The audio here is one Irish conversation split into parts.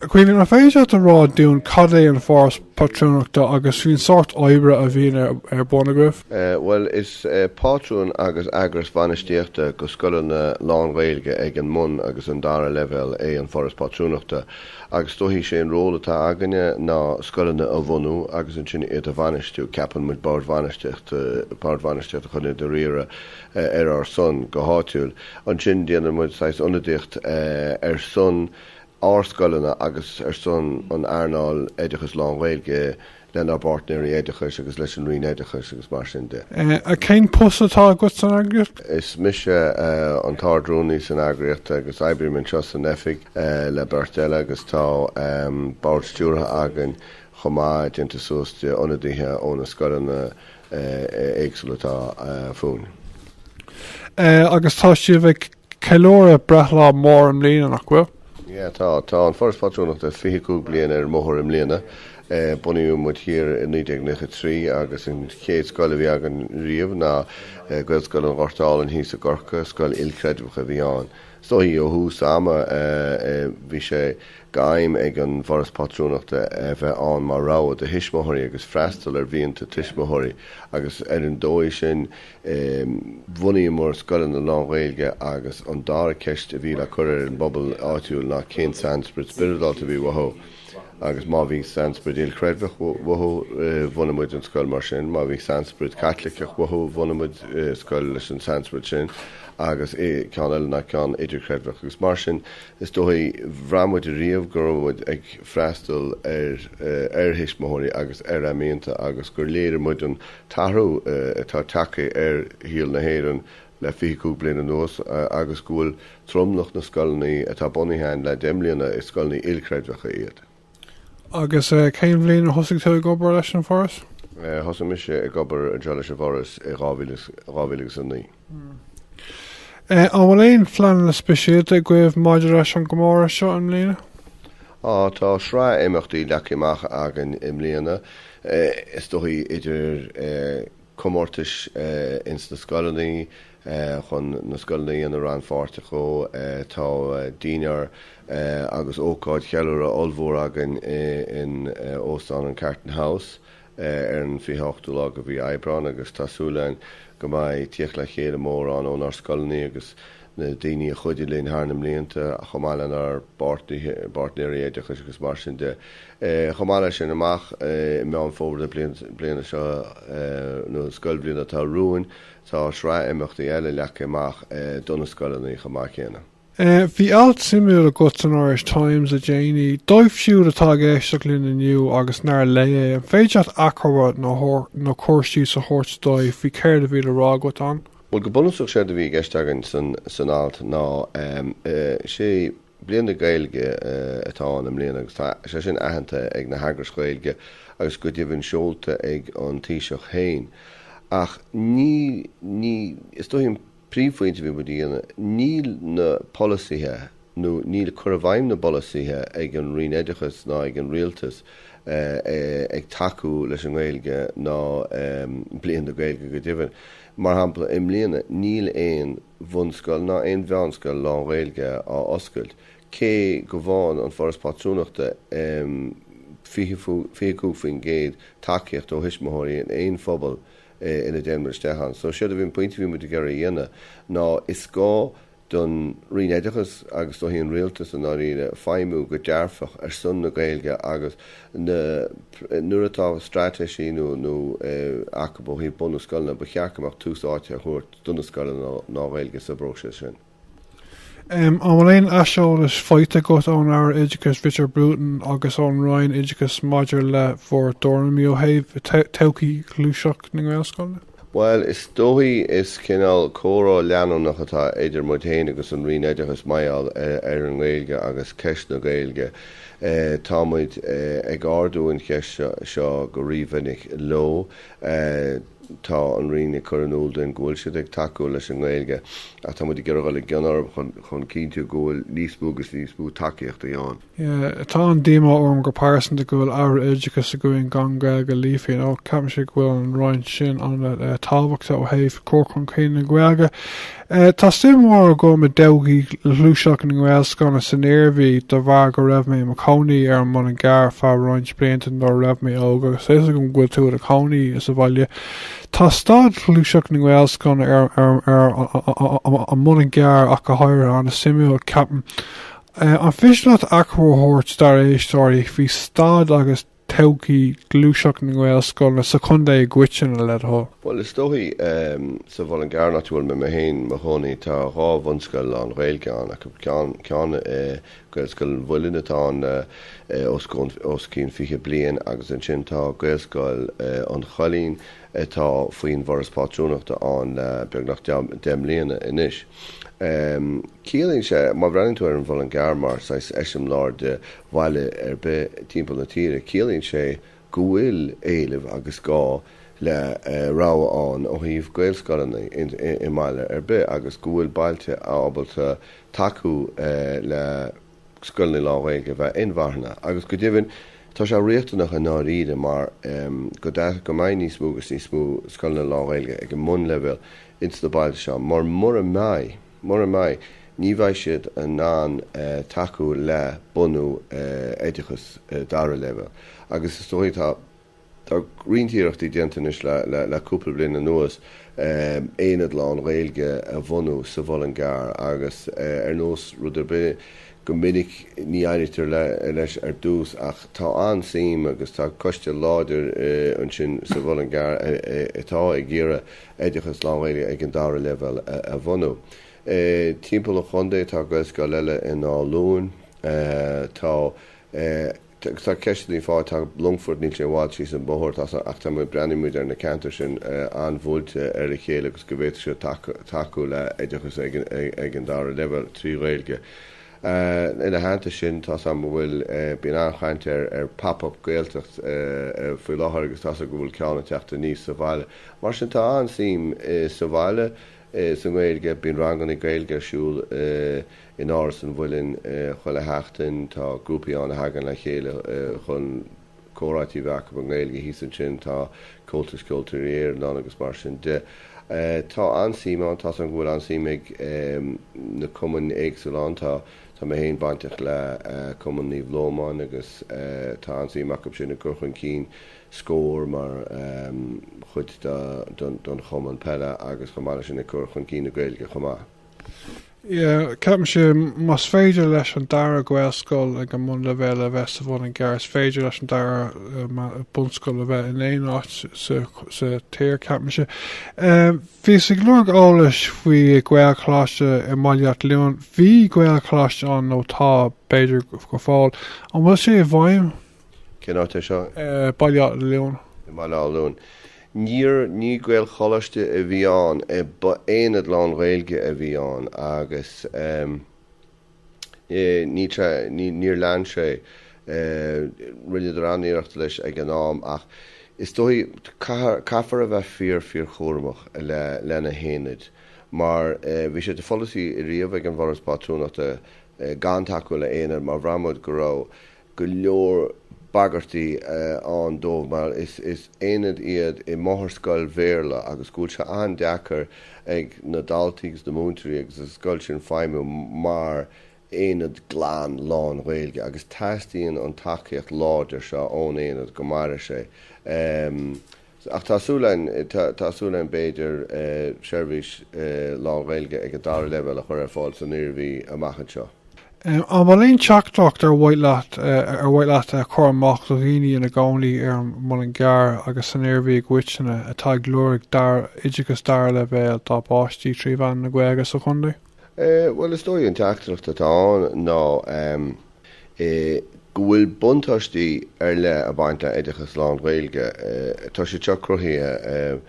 Caoimhín, an féidir leat a rá dúinn cad é an foras patrúnachta agus faoin sórt oibre a bhíonn ar bun agaibh? Bhuel is pátrún agus eagras bainistíochta do scoileanna lán-Ghaeilge ag an mbun agus an dara leibhéal é an Foras Pátrúnachta agus is dóichí sé an ról atá againne ná scoileanna a bhunú agus ansin iad a bhainistiú. Ceapann muid boird bhainistíochta chun iad a riaradh ar ár son go háitiúil. Ansin déanann muid saghas ionadaíocht ar son ár scoileanna agus ar son an earnáil oideachais lán-Ghaeilge lenár bpairtnéirí oideachais agus leis an Roinn Oideachais agus mar sin de. A, Cén post atá agat san eagraíocht? Is mise an tArd-Rúnaí san eagraíocht agus oibrím anseo san oifig le beirt eile agus tá bord stiúrtha againn chomh maith déanta suas de ionadaithe ó na scoileanna éagsúla atá fúinn. A, Agus tá sibh ag Ceiliúradh breithlá mór i mbliana, nach bhfuil? Yeah, tá. Tá an Foras Pátrúnachta 25 bliain ar an mbóthar i mbliana. Bunaíodh muid thiar i 1993 agus an chéad scoil a bhí againn riamh ná Gaelscoil an Ghoirt Álainn thíos i gCorcaigh, scoil ilchreidmheach a bhí ann. Is dóichí ó thús ama bhí sé d'aidhm ag an bhForas Pátrúnachta a bheith ann mar rogha do thuismitheoirí agus freastal ar mhianta tuismitheoirí agus ar an dóigh sin, e. Bhunaíomar scoileanna lánGhaeilge agus an dara ceist a bhí le cur ar an bpobal áitiúil ná cén sainsprid spioradálta a bhí uathu agus má bhí sainsprid ilchreidmheach uathu, bhunaigh muid an scoil mar sin, má bhí sainsprid Chaitliceach uathu, bhunaigh muid scoil leis an sainsprid sin agus ceann eile ná ceann idirchreidmheach agus mar sin. Is dóichí, bhraith muid ariamh go raibh muid ag freastal ar thuismitheoirí agus ar a mianta agus gur léirigh muid an t-athrú atá tagtha ar shaol na hÉireann le fiche cúig bliain anuas agus go bhfuil tromlach na scoileanna atá bunaithe againn le deich mbliana, is scoileanna ilchreidmheacha iad. Agus cén bhliain a thosaigh tú ag obair leis an bhForas? Thosaigh mise ag obair anseo leis an bhForas i 2000 agus 2009. An bhfuil aon phleananna speisialta agaibh maidir leis an gcomóradh seo i mbliana? Tá sraith imeachtaí leagtha amach againn i mbliana, is dóichí, idir comórtais ins na scoileanna chun na scoileanna a dhéanamh rannpháirteach dhó, tá dinnéar agus ócáid cheiliúrtha ollmhór againn in Óstán an Carton House, ar an 28ú lá de mhí Aibreáin agus tá súil againn go mbeidh tíocht le chéile mór ann ónár scoileanna agus na daoine a chuidigh linn thar na mblianta, chomh maith lenár bpairtnéirí oideachais agus mar sin de. Chomh maith leis sin, amach i Meán Fómhair na bliana seo, nó an scoilbhliain atá romhainn, tá sraith imeachtaí eile leagtha amach do na scoileanna chomh maith céanna. Bhí alt suimiúil agat san Irish Times le déanaí. Dóibh siúd atá ag éisteacht linn inniu agus nár léigh é, an féidir leat achoimre nó cur síos a thabhairt dóibh faoi céard a bhí le rá agat ann? Bhuel, go bunúsach séard a bhí i gceist agam san alt ná, 'sé Bliain na Gaeilge atá ann i mbliana agus tá sé sin aitheanta ag na heagrais Ghaeilge agus go deimhin seolta ag an Taoiseach féin ach ní, ní, is dóichí, Príomhphointe a bhí muid a dhéanamh, níl na polasaithe nó níl cur i bhfeidhm na bpolasaithe ag an Roinn Oideachais ná ag an Rialtas ag tacú leis an nGaeilge ná Bliain na Gaeilge go deimhin. Mar shampla, i mbliana níl aon bhunscoil ná aon mheánscoil lán-Ghaeilge á oscailt cé go bhfaigheann An Foras Pátrúnachta 25% tacaíocht ó thuismitheoirí in aon phobal ina dtéann muid isteach ann. So séard a bhí an pointe a bhí muid ag iarraidh a dhéanamh ná is gá don Roinn Oideachais agus don Rialtas i ndáiríre feidhmiú go dearfach ar son na Gaeilge agus nuair atá straitéisí nó nó acu ó thaobh bunú scoileanna ba cheart go mbeadh tús áite á thabhairt do na scoileanna lán-Ghaeilge sa bpróiseas sin. M, An bhfuil aon aiseolas faighte agat ón Aire Oideachais Richard Bruton agus ón Roinn Oideachais maidir le bhur dtuairimí ó thaobh todhchaí ghluaiseacht na nGaelscoileanna? Bhuel, is dóichí is cineál comhrá leanúnach atá idir muid héin agus an Roinn Oideachais maioll ar an nGaeilge agus ceist na Gaeilge. Tá muid ag ardú an cheist seo go rí-mhinic leo. Tá an Roinn ag cur in iúl dúinn go bhfuil siad ag tacú leis an nGaeilge ach tá muid ag iarraidh dul i gcion orthu chun cinntiú go bhfuil níos mó agus níos mó tacaíochtaí ann. Tá an-díomá orm go pearsanta go bhfuil aire oideachais againn gan Gaeilge líofa mar ceapaimse go bhfuil an Roinn sin an-tábhachta ó thaobh cur chun cinn na Gaeilge. Tá suim mhór agam i dtodhchaí ghluaiseacht na nGaelscoileanna san Iarmhí de bharr go raibh mé i mo chónaí ar an Muileann gCearr ar feadh roinnt blianta nuair a raibh mé óg agus a fhios agam go bhfuil tú ina chónaí sa bhaile. Tá staid ghluaiseacht na nGaelscoileanna ar an Muileann gCearr ach go háirithe ana-shuimiúil, ceapaim. An féidir leat achoimre a thabhairt dár éisteoirí faoi staid agus todhchaí ghluaiseacht na nGaelscoileanna sa chontae i gcoitinne, led' thoil? Bhuel, is dóichí sa Mhuileann gCearr áit a bhfuil mé héin 'mo chónaí, tá dhá bhunscoil lán-Ghaeilge ann, ceann acu Gaelscoil an Mhuilinn atá ann le os cionn fiche bliain agus ansin tá Gaelscoil an Choillín atá faoin bhForas Pátrúnachta ann le beagnach deich mbliana anois. Ciallaíonn sé, má bhreathnaíonn tú ar an Muileann gCearr mar saghas eiseamláir de bhaile ar bith timpeall na tíre, ciallaíonn sé go bhfuil éileamh agus gá le rogha ann ó thaobh Gaelscoileanna i mbaile ar bith agus go bhfuil bailte ábalta tacú le scoileanna lánGhaeilge a bheith inmharthana. Agus go deimhin, tá sé riachtanach i ndáiríre mar go mbeidh níos mó agus níos mó scoileanna lánGhaeilge ag an mbunleibhéal ins na bailte seo mar mura mbeidh, Mura mbeidh, ní bheidh siad in ann tacú le bunú oideachas dara leibhéal. Agus is dóigh, tá roinnt iarrachtaí déanta anois le cúpla bliain anuas aonad lán-Ghaeilge a bhunú sa Muileann gCearr agus ar nós rud ar bith go minic ní éirítear leis ar dtús ach tá an-suim agus tá coiste láidir ansin sa Muileann gCearr atá ag iarraidh oideachas lánGhaeilge ag an dara leibhéal a bhunú. Timpeall an chontae tá Gaelscoil eile in Áth Luain, tá ceisteanna faoi, tá Longfort, níl sé i bhfad síos an bóthar ach tá muid, breathnaíonn muid ar na ceantair sin an-bhuailte ar a chéile agus go bhféadfadh siad tacú le oideachas ag an dara leibhéal trí Ghaeilge. Ina theannta sin, tá's agam go bhfuil, bíonn an-chaint ar Pop Up Gaeltacht faoi láthair agus tá's agam go bhfuil ceann ag teacht aníos sa bhaile. Mar sin, tá an-suim sa bhaile sa nGaeilge, bíonn ranganna Gaeilge ar siúl in Áras an Mhuilinn chuile sheachtain, tá grúpaí ann a thagann le chéile chun. comhráite a bheith acu i nGaeilge thíos ansin, tá Comhaltas Ceoltóirí Éireann ann agus mar sin de. Tá an-suim ann, tá 's agam go bhfuil an-suim ag na cumainn éagsúla ann, tá mé féin bainteach le Cumann Naomh Lomáin agus tá an-suim acu sin i gcur chun cinn Scór mar chuid den chumann peile agus chomh maith leis sin ag cur chun cinn na Gaeilge chomh maith. Ceapaimse, más féidir leis an dara Gaelscoil ag an mbunleibhéal a bheith sa Muileann gCearr, is féidir leis an dara bunscoil a bheith in aon áit sa tír, ceapaimse. Bhíos ag lorg eolais faoi Ghaelcholáiste i mBaile Átha Luain. Bhí Gaelcholáiste ann, nó tá, b'fhéidir go fóill. An bhfuil sé i bhfeidhm? Cén áit é seo? Baile Átha Luain. i mBaile Átha Luain. Níor, ní Gaelcholáiste a bhí ann, ba aonad lán-Ghaeilge a bhí ann agus ní, ní, níor lean sé, rinneadar tréaniarracht leis ag an am ach is dóigh, caithfear a bheith fíor, fíorchúramach le, leis na haonaid mar bhí sé de pholasaí riamh ag an bhForas Pátrúnachta gan tacú le haonaid mar bhraith muid go raibh, go leor bagairtí ann dóibh mar is aonaid iad i máthairscoil Bhéarla agus go bhfuil sé an-deacair ag na daltaí agus na múinteoirí agus an scoil sin feidhmiú mar aonad glan lán-Ghaeilge agus teastaíonn an tacaíocht láidir seo ón aonad go mairfidh sé. Ach tá súil a'inn, tá súil a'inn b'fhéidir seirbhís lánGhaeilge ag an dara leibhéal a chur ar fáil san Iarmhí amach anseo. An bhfuil aon teachtaireacht ar mhaith leat a chur amach do dhaoine ina gcónaí ar an Muileann gCearr agus san Iarmhí i gcoitinne atá ag lorg dara, oideachas dara leibhéal dá bpáistí trí mheán na Gaeilge sa chontae? Bhuel, is dóigh an teachtaireacht atá ann ná go bhfuil buntáistí ar leith ag baint le oideachas lán-Ghaeilge. Tá siad seo cruthaithe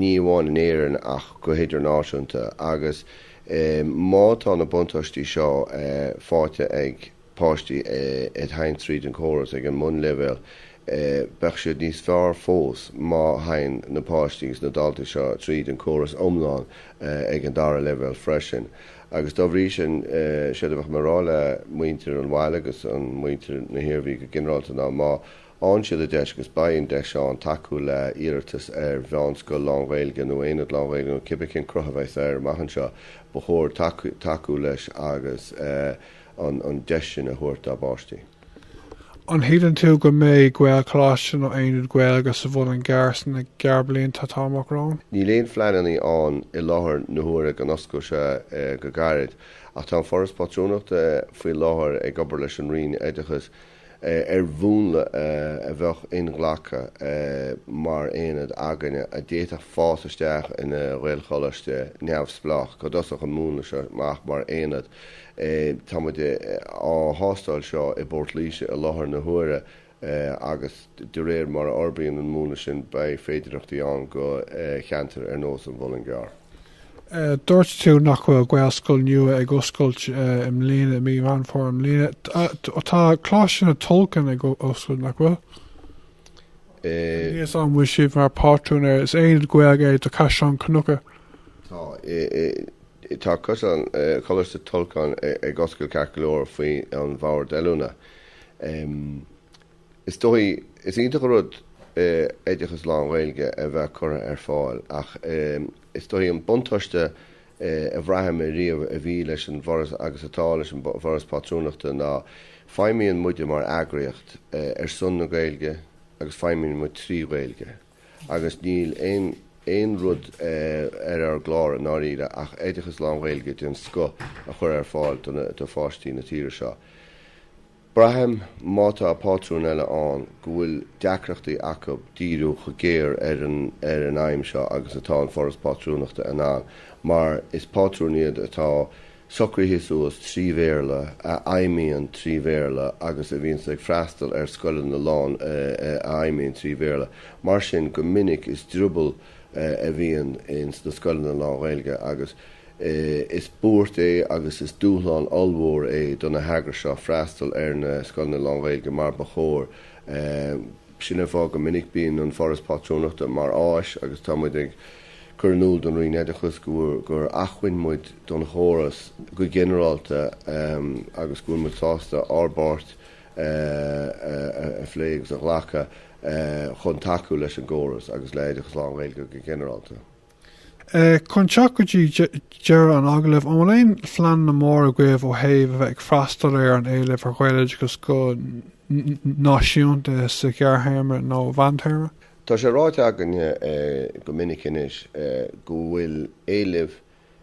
ní amháin in Éirinn ach go hidirnáisiúnta agus má tá na buntáistí seo fáighte ag. páistí ag théann tríd an chóras ag an mbunleibhéal, beidh siad níos fearr fós má théann na páistí agus na daltaí seo tríd an chóras iomlán ag an dara leibhéal freisin. Agus dá bhrí sin, séard a bheadh mé a rá le muintir an bhaile agus an muintir na hIarmhí go ginearálta ná má fhaghann siad an deis, agus beidh an deis ann, tacú le hiarratas ar mheánscoil lánGhaeilge nó aonad lánGhaeilge nó cibé cén cruth a bheidhs air amach anseo, ba chóir tacú leis agus. an deis sin a thabhairt dá bpáistí. An shíleann tú go mbeidh Gaelcholáiste nó Aonad Gaeilge sa Mhuileann gCearr sna gearrblianta atá amach romhainn? Níl aon phleananna ann i láthair na huaire go n-osclóidh sé go gairid, ach tá An Foras Pátrúnachta faoi láthair ag obair leis an Roinn Oideachais ar mhúnla a bheadh inghlactha mar aonad againne a d'fhéadfadh fás isteach ina Ghaelcholáiste neamhspleách go dtosódh an múnla seo amach mar aonad. Tá muid á thástáil seo i bPort Laoise i láthair na huaire agus de réir mar a fhorbraíonn an múnla sin beidh féidearthachtaí ann do cheantair ar nós an Mhuilinn Chearr. Dúirt tú nach bhfuil Gaelscoil nua ag oscailt i mbliana, i mí Mheán Fómhair i mbliana. Tá Coláiste na Tulchann ag oscailt nach bhfuil? Níos an bhfuil sibh mar pátrún ar is aonad Gaeilge é do Chaisleán Cnucha. Tá. Tá cosán Coláiste Tulchann ag oscailt ceart go leor faoin mBord oiliúna. Is dóigh, is iontach an rud é oideachas lán-Ghaeilge a bheith curtha ar fáil ach is dóigh an buntáiste a bhraith mé riamh a bhí leis an bhForas agus atá leis an bhForas Pátrúnachta ná feidhmíonn muide mar eagraíocht ar son na Gaeilge agus feidhmíonn muid trí Ghaeilge agus níl aon rud ar ár gclár i ndáiríre ach oideachas lán-Ghaeilge den scoth a chur ar fáil do pháistí na tíre seo. Braithim, má tá pátrún eile ann, go bhfuil deacrachtaí acu díriú chomh géar ar an aidhm seo agus atá an Foras Pátrúnachta in ann, mar is pátrúin iad atá socraithe suas trí Bhéarla, a fheidhmíonn trí Bhéarla agus a bhíonns ag freastal ar scoileanna, a lán, a fheidhmíonn trí Bhéarla. Mar sin, go minic, is drioball a bhíonn sna scoileanna lánGhaeilge agus is buairt é agus is dúshlán ollmhór é do na heagrais seo freastal ar na scoileanna lánGhaeilge mar ba chóir. Sin an fáth go minic bíonn an Foras Pátrúnachta mar áis agus tá muid ag cur in iúl don Roinn Oideachais gur acmhainn muid don chóras go ginearálta agus go bhfuil muid sásta ár bpáirt a phlé agus a ghlacadh. chun tacú leis an gcóras agus le hoideachas lánGhaeilge go ginearálta. Chun teacht go dtí deireadh an agallaimh, an bhfuil aon phleananna mór agaibh ó thaobh a bheith ag freastal ar an éileamh ar Ghaeloideachas go náisiúnta sa ghearrthéarma nó mheántéarma? Tá sé ráite againne go minic anois go bhfuil éileamh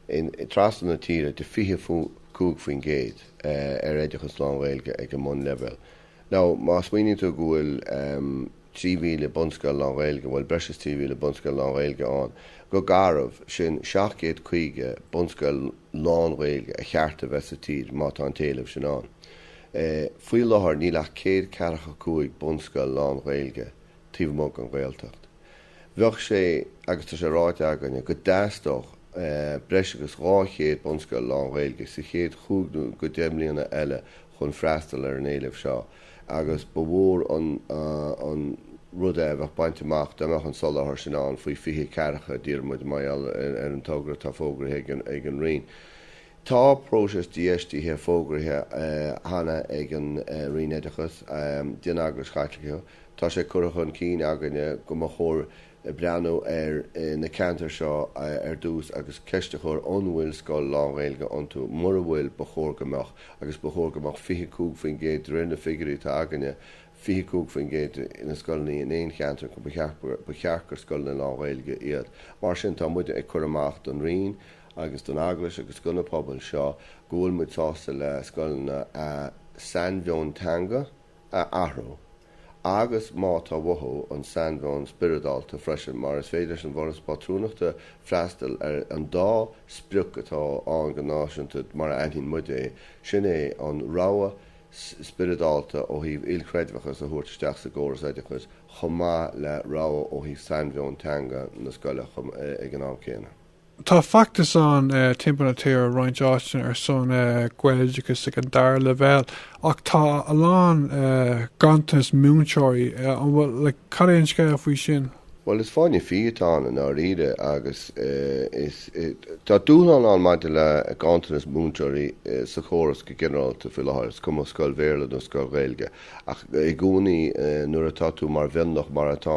ann trasna na tíre de 25% ar oideachas lán-Ghaeilge ag an mbunleibhéal. Now, má smaoiníonn tú go bhfuil 3,000 bunscoil lán-Ghaeilge, bhuel, breis is 3,000 bunscoil lán-Ghaeilge ann, go garbh, sin 750 bunscoil lán-Ghaeilge a cheart a bheith sa tír má tá an t-éileamh sin ann. Faoi láthair, níl ach 145 bunscoil lán-Ghaeilge taobh amuigh den Ghaeltacht. Bheadh sé, agus tá sé ráite againne, go dteastódh breis agus 200 bunscoil lán-Ghaeilge sa chéad chúig nó go deich mbliana eile chun freastal ar an éileamh seo agus ba mhór an rud a bheadh bainte amach dá mbeadh an soláthar sin ann faoi 2040, dá ndíreodh muid, mar gheall ar an togra atá fógraithe ag an Roinn. Tá próiseas dífheistithe fógraithe cheana ag an Roinn Oideachas, den Eaglais Chaitliceach, Tá sé curtha chun cinn againne go mba chóir breathnú ar na ceantair seo ar dtús agus ceist a chur an bhfuil scoil lánGhaeilge iontu. Mura bhfuil, ba chóir go mbeadh agus ba chóir go mbeadh 25% de réir na figiúirí atá againne, 25% de na scoileanna in aon cheantar, go mba cheart gur scoileanna lánGhaeilge iad. Mar sin, tá muide ag cur amach don Roinn agus don Eaglais agus do na pobail seo go bhfuil muid sásta le scoileanna a sainmheon teanga, a athrú, agus má tá uathu, an sainmheoin spioradálta freisin, mar is féidir leis an bhforas pátrúnachta freastal ar an dá sprioc atá ann go náisiúnta mar a aithníonn muid é, sin é an rogha spioradálta ó thaobh ilchreidmheachas a thabhairt isteach sa gcóras oideachais chomh maith le rogha ó thaobh sainmheoin teanga na scoile ag an am céanna. Tá feachtas ann timpeall na tíre i roinnt áiteanna ar son Gaeloideachas ag an dara leibhéal ach tá a lán ganntanas múinteoirí. Cad é an scéal faoi sin? Bhuel, is fáinne fí atá ann i ndáiríre agus tá dúshlán ann maidir le ganntanas múinteoirí sa chóras go ginearálta faoi láthair, is cuma scoil Bhéarla nó scoil Ghaeilge. Ach i gcónaí nuair atá tú mar mhionlach, mar atá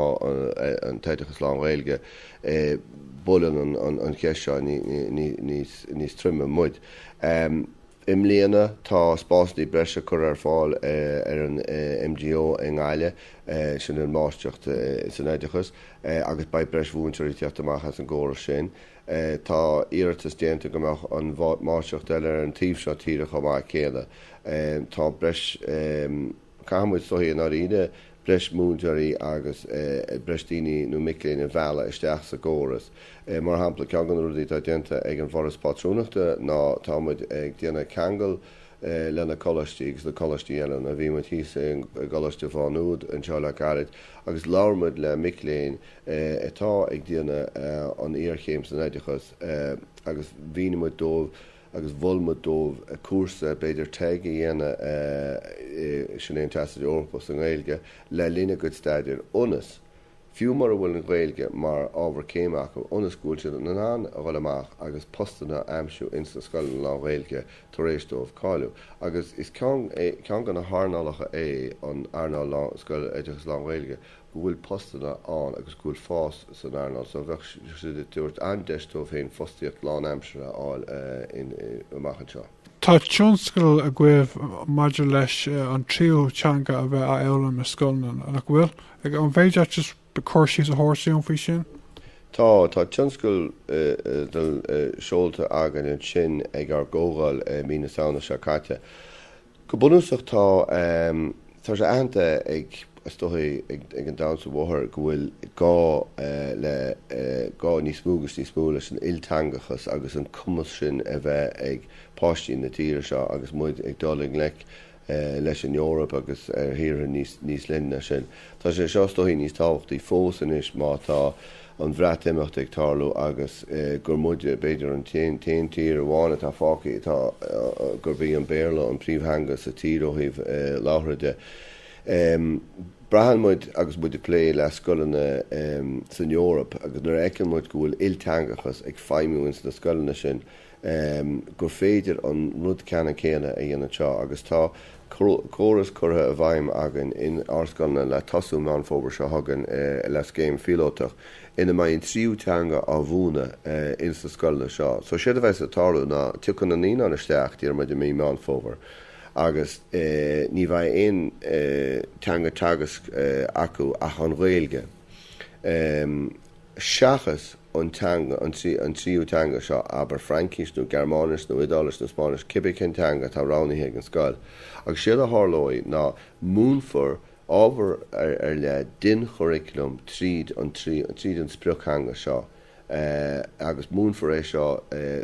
an t-oideachas lán-Ghaeilge, Buaileann an cheist seo níos troime muid. I mbliana tá spásanna breise curtha ar fáil ar an MGO i nGaillimh, sin an Máistreacht san Oideachas, agus beidh breis mhúinteoirí ag teacht amach as an gcóras sin. Tá iarratas déanta go mbeadh an Máistreacht eile ar an taobh seo tíre chomh maith céanna. Tá breis. Caithfidh muid, is dóichí, i ndáiríre, breis múinteoirí agus breis daoine nó mic léinn a mhealladh isteach sa gcóras. Mar shampla, ceann de na rudaí atá déanta ag an bhForas Pátrúnachta ná tá muid ag déanamh ceangal leis na coláistí agus le coláistí eile. Bhí muid thíos i gColáiste Mhá Nuad anseo le gairid agus labhair muid le mic léinn atá ag déanamh an iarchéim san oideachas agus mhínigh muid dóibh agus mhol muid dóibh cúrsa, b'fhéidir TEG, a dhéanamh, sin é an Teastas Eorpach sa nGaeilge, le linn a gcuid staidéir ionas, fiú mura bhfuil an Ghaeilge mar ábhar céime acu, ionas go bhfuil siad in ann a dhul amach agus postanna a aimsiú ins na scoileanna lánGhaeilge tar éis dóibh cáiliú. Agus is ceann de na hearnálacha é an earnáil scoil, oideachas lánGhaeilge, go bhfuil postanna ann agus go bhfuil fás san earnáil seo, bheadh siad ag tabhairt an deis dóibh féin fostaíocht lánaimseartha a fháil amach anseo. Tá tionscadal agaibh maidir leis an tríú teanga a bheith á fhoghlaim i scoileanna, nach bhfuil? An féidir leat just cur síos a thabhairt dúinn faoi sin? Tá, tá tionscadal seolta againn ansin ag ár gcomhdháil i mí na Samhna seo caite. Go bunúsach tá sé aitheanta ag, is dóichí, ag an domhan san am i láthair go bhfuil gá le gá níos mó agus níos mó leis an ilteangachas agus an cumas sin a bheith ag páistí na tíre seo agus muid ag dul i ngleic leis an Eoraip agus ar thíortha níos leithne ná sin. Tá sé seo, is dóichí, níos tábhachtaí fós anois má tá an Bhreatimeacht ag tarlú agus gur muide, b'fhéidir, an t-aon tír amháin atá fágtha atá, gurb í an Béarla an phríomhtheanga sa tír ó thaobh labhartha de. Braitheann muid agus muid ag plé le scoileanna san Eoraip agus nuair a fheiceann muid go bhfuil ilteangachas ag feidhmiú ins na scoileanna sin, em, gur féidir an rud ceannann céanna a dhéanamh anseo agus tá córas curtha i bhfeidhm againn in ár scoileanna le tosú Meán Fómhair seo chugainn le scéim phíolótach ina mbeidh an tríú teanga á mhúineadh ins na scoileanna seo. So séard a bheidh sa tarlú ná tiocfaidh na naíonáin isteach, déarfaimid, i mí Meán Fómhair agus eh ní bheidh aon eh teanga teagaisc acu ach an Ghaeilge. seachas an teanga, an tríú teanga seo, abair Fraincis nó Gearmáinis nó Iodáilis nó Spáinnis, cibé cén teanga atá roghnaithe ag an scoil. Agus séard a tharlóidh ná múinfear ábhar ar leith den churriculum tríd an sprioc-theanga seo. agus múinfear é seo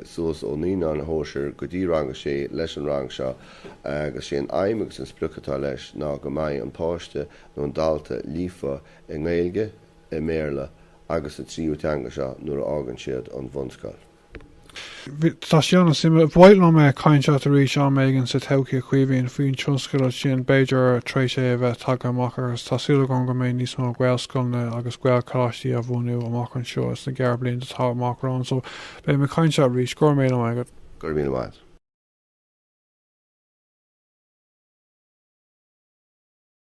suas ó Naíonáin Shóisir go dtí Rang a sé leis an rang seo agus sé an aidhm agus an sprioc atá leis ná go mbeidh an páiste nó an dalta líofa i nGaeilge, i mBéarla agus sa tríú teanga seo nuair a fhágann siad an bhunscoil. Tá sé ana suimiúil. Ba mhaith liom cainteach arís am éigin sa todhchaí a Chaoimhín, faoin tionscadal sin, b'fhéidir tar éis é a bheith tagtha amach agus tá súil agam go mbeidh níos mó Gaelscoileanna agus Gaelcholáistí á bhunú amach anseo sna gearr blianta atá amach romhainn so beidh mé ag cainteach arís. Go raibh míle maith agat. Go raibh míle maith agat.